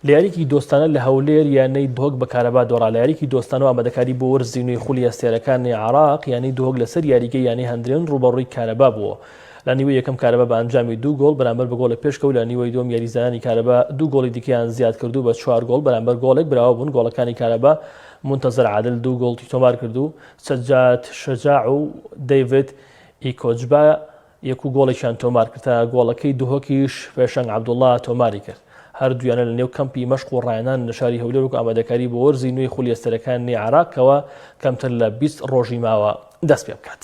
لە یارییەکی دۆستانە لە هەولێر یانەی دهۆک بە کارەبا دۆڕا، لە یارییەکی دۆستانە و ئامادەکاری بۆ وەرزی نوێی خولی هەستیارەکانی عێراق، یانەی دهۆک لەسەر یاریگەی یانەی هەندرێن رووبەڕووی کارەبا بووە. لە نیوەی یەکەم کارەبا بە ئەنجامی دوو گۆڵ بەرامبەر بە گۆڵێک پێشکەوت، لە نیوەی دووەم یاریزانانی کارەبا دوو گۆڵی دیکەیان زیادکرد و بە چوار گۆڵ بەرامبەر گۆڵێک براوە بوون، گۆڵەکانی کارەبا مونتەزەر عادل دوو گۆڵی تۆمارکرد و سەجاد شەجاع و دەیڤد ئیکۆجبا یەک و گۆڵێکیان تۆمار کرد، تا گۆڵەکەی دهۆکیش پێشەنگ عەبدوڵا تۆماری کرد. هەردوویانە لە نێو کەمپی مەشق و ڕایانان لە شاری هەولێر وەکو ئامادەکاری بۆ وەرزی نوێی خولی ئەستێرەکانی عێراق کەوا کەمتر لە بیست ڕۆژی ماوە دەست پێ بکات.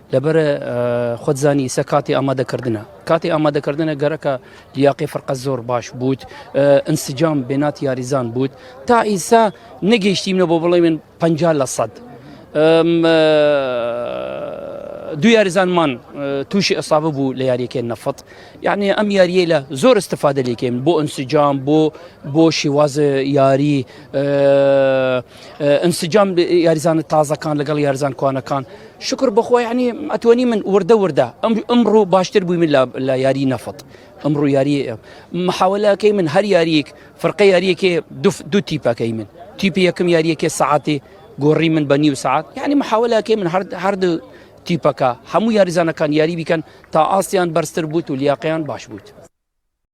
لەبەر خۆت زانی ئیسە کاتی ئامادەکردنە کاتی ئامادەکردنە گەرەکە لیاقی فرقە زۆر باش بووت ئەنسجام بێنات یاریزان بووت تا ئیسا نەگەیشتیمە بۆ بڵێمن پ لە سەد دو یاریزانمان تووشی ئەسابە بوو لە یاریەکەی نەفت یعنی ئەم یاریە لە زۆر استفادە لێکەین بۆ ئەنسجام بۆ بۆ شیوازە یاری ئەنسجام یاریزانە تازەکان لەگەڵ یارزان کوانەکان شکر بخۆی عنی ئەتوانی من وردە وردە ئەم ئەمڕۆ باشتر بووی من لە یاری نەفت ئەمڕۆ یاری محاولەکەی من هەر یاریک فرقە یاریەکێ دو تیپەکەی من تیپی یەکەم یاریەکێ سعاتی گۆڕی من بە نیو سعات یعنی محاولەکەی من هەردە تیپەکە هەموو یاریزانەکان یاری بیکەن تا ئاستیان بەرزتر بووت و لیاقیان باش بووت.